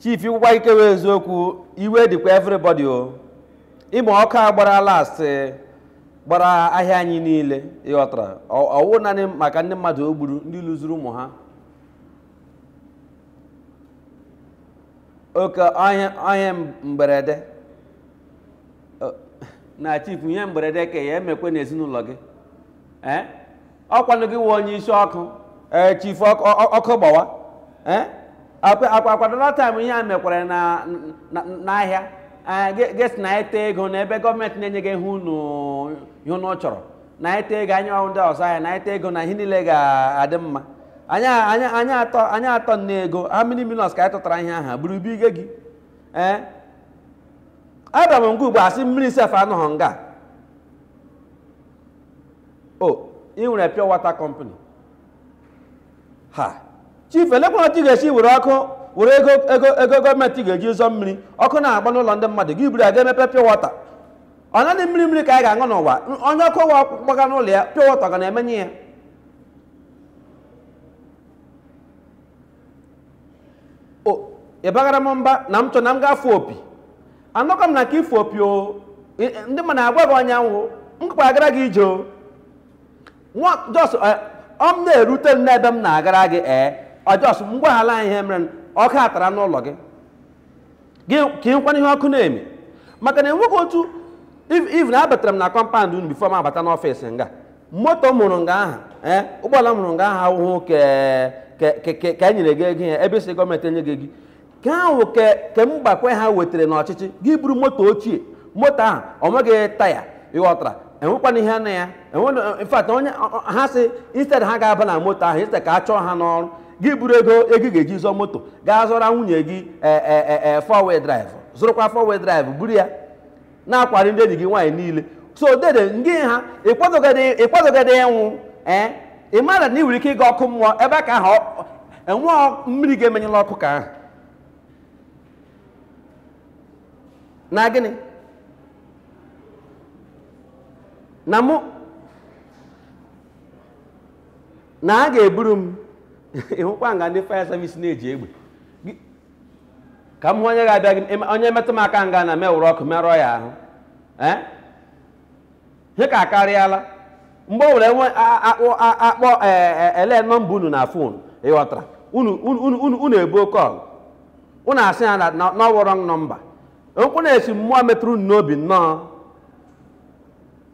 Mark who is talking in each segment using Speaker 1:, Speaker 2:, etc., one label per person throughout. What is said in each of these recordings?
Speaker 1: chief ikwukwa ike wee eziokwu iwe dịkwa everybody o ị ma ọkụ a gbara last eh, gbara ahịa anyị niile ị ghọtara Ọ- ọ wụ naanị maka ndị mmadụ o gburu ndị luzuru ụmụ ha oke ọ ihe mberede Ọ- na chief ihe mberede ka ya emekwe n'ezinụlọ gị ee ọ kwanụ gị wụ onye isi ọkụ ee chifu ọkụ ọ- ọkụ gbawa ee akwa akwa akwa dat taịm ihe a mekwara na na- n'ahịa ee, ge- gị asị nyeta ego na ebe gọọmenti na-enyeghị ihe unu ihe unu chọrọ nyeta ego anyị wụ ndị ọzụ ahịa nyeta ego na ihe niile ga-adị mma anyị anyị anyị atụọ anyị atụọ nne ego how many millions ka anyị tụtara ihe aha buru bunye gị ee abịara m nga ugbu a a sị mmiri sef anọghị nga o ị nwere pure water company ha chief elekwanụ otu ị ga-esi were ọkụ were ego ego ego gọọmenti ga-eji zụọ mmiri ọkụ na-agba n'ụlọ ndị mmadụ gị buru ya gaa mepee pure water ọ naanị mmiri mmiri ka anyị ga-aṅụ n'ụwa onye ọkụ wa gbaga n'ụlọ ya pure water ga na-emenyụ ya ị bagara m mba na m chọ na m ga-afụ opi anọkwa m na nke ịfụ opi o ndị mmadụ agwa gị anyanwụ m gakwa agara gị ije o nwa just ọ m na-erute m n'ebe m na-agara gị ee ọ just m gwaghala ihe mere ọkụ atara n'ụlọ gị kenyekwana ihe ọkụ na-eme maka na enweghị otu even abatara m na kọmpand unu bifo m abata n'ọfịs nga moto m hụrụ nga aha ee ụgbọala m hụrụ nga aha ọhụụ ka e nyere gị ego ya ebe ị sị gọọmenti enyeghị gị ka ahụ kemgbekwa ha batara n'ọchịchị gị buru moto ochie moto ahụ ọ nweghị taya ị ghọtara enwekwana ihe na ya in fact onye ha sị instead ha ga-aba na moto ahụ instead ka a chọọ ha n'ọrụ gị buru ego ego ị ga-eji zụọ moto gaa zụọra nwunye gị ee ee ee ee four wheel drive zụrụkwa four wheel drive buru ya na-akwọghari ndị enyi gị nwaanyị niile so dede ngị ha ị kwadogodị ị kwadogodị ịnwụ ee ị mara na ị nwere ike ịga ọkụ mmụọ ebe a ka ahụ enwe mmiri ga-emenyụla ọkụ ka ahụ na gịnị na mụ na ha ga-eburu m ị hụkwa nga ndị fire service na-eji egbe Gị- ka m hụ onye ga-abịa gị em- onye metụ m aka nga na m ewere ọkụ merụọ ya ahụ ee ihe ka akarịala mgbe ọ wụla nwe a- a- akpọ a- akpọ ee, e- ele nọmba unu na fon ị ghọtara unu unu- unu unu- unu ebuo kọl unu asị ya na na- na ọ wụ wrong nọmba okwu na-esi mmụọ metụrụ unu n'obi nnọọ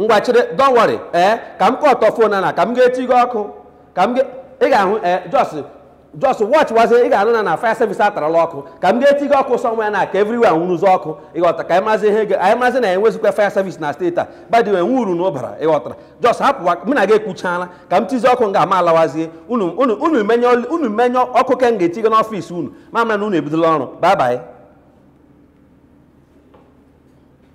Speaker 1: ngwa chere don't worry ee ka m kọtọ phone na ka m ga-eti gị ọkụ ka m ga- ị ga-ahụ ee just just watch wazie ị ga-anụ na na fire service atarala ọkụ ka m ga-eti gị ọkụ somewhere na ka everywhere nwụrụzi ọkụ ịghọta ka anyị mazi ihe ga- anyị mazi na ya enwezikwa fire service na steeti a by the way nwuru na ụbara ịghọtara just hapụwa mụ na gị ekwuchaala ka m tizi ọkụ m ga-ama alawazie unu unu unu menye ọl- unu menye ọkụ ka m ga-eti gị n'office unu ma mara na unu ebidola ọrụ bye bye